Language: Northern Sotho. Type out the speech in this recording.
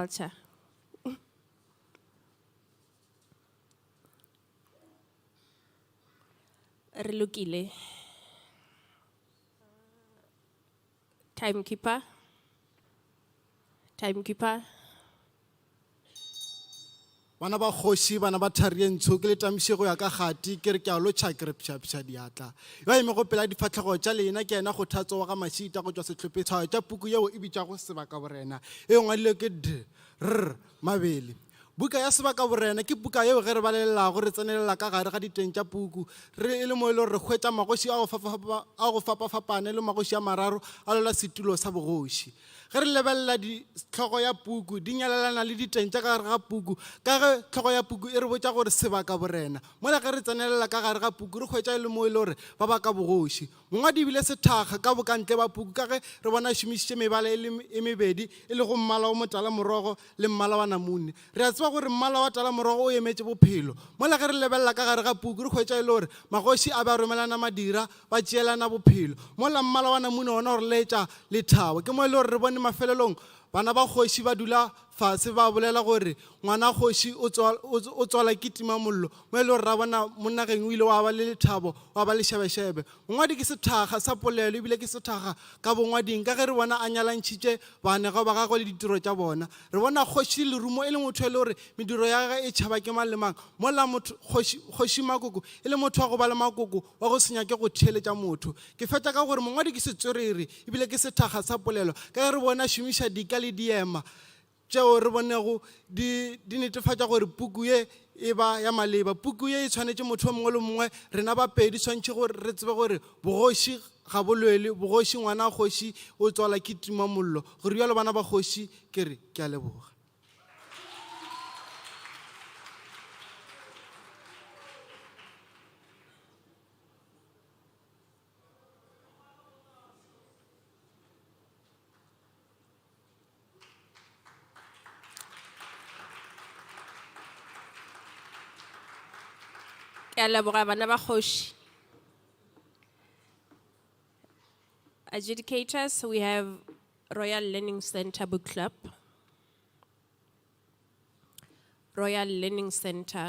culture. Re lokile. Timekeeper. Timekeeper. Bana ba kgoši, bana ba thari ye ntsho, ke le tamiše go ya ka kgati, ke re ke a lotšha, ke re pšhapša diatla. Yo a emego pela difahlego tša lena ke yena Kgothatso wa ga Mašita go tšwa sehlopheng tša puku yeo e bitšwago Sebakaborena, e e ngwadilwego ke Dr. Mabele. Buka ya Sebakaborena ke puka yeo ge re balelelago re tsenelela ka gare ga diteng tša puku re e le mo e lego re hwetša magoši a go fapafapane le magoši a mararo a lwela setulo sa bogoši. Ge re lebelela di, hlogo ya puku, di nyalelana le diteng tša ka gare ga puku, ka ge hlogo ya puku e re botša gore sebaka borena. Mola ge re tsenelela ka gare ga puku, re hwetša e le moo e le gore ba baka bogoši. Mongwadi e bile sethakga ka bokantle ba puku ka ge re bona a šomišitše mebala e le e mebedi, e lego mmala o motala-morogo le mmala wa namune. Re a tseba gore mmala wa talamorogo o emetše bophelo. Mola ge re lebelela ka gare ga puku, re hwetša e le gore magoši a be a romelana madira, ba tšeelana bophelo. Mola mmala wa namune wona o re laetša lethabo. Ke mo e le gore re bone mafelelong bana ba kgoši ba dula fase ba bolela gore, Ngwana kgoši o tswa, o tswala ke timamollo. Mo e le gore ra bona monnageng o ile wa ba le lethabo, wa ba le šebešebe. Mongwadi ke sethakga sa polelo e bile ke sethakga ka bongwading. Ka ge re bona a nyalantšhitše baanegwa ba gagwe le ditiro tša bona, re bona kgoši le lerumo e le motho e le gore mediro ya gagwe e tšhaba ke mang le mang, mola motho, kgoši, Kgoši Makoko e le motho wa go ba le makoko, wa go se nyake go theeletša motho. Ke fetša ka gore mongwadi ke setswerere e bile ke sethakga sa polelo ka ge re bona a šomiša dika le diema tšeo re bonego di, di netefatša gore puku ye e ba ya maleba. Puku ye e tshwanetše motho yo mongwe le mongwe. Rena ba pedi tshwanetše gore re tsebe gore bogoši ga bo lwelwe. Bogoši, ngwana wa kgoši o tswala ke tumamollo. Go rialo bana ba kgoši, ke re, Ke a leboga. ke a leboga bana ba kgoši adjudicators we have royal learning center book club royal learning center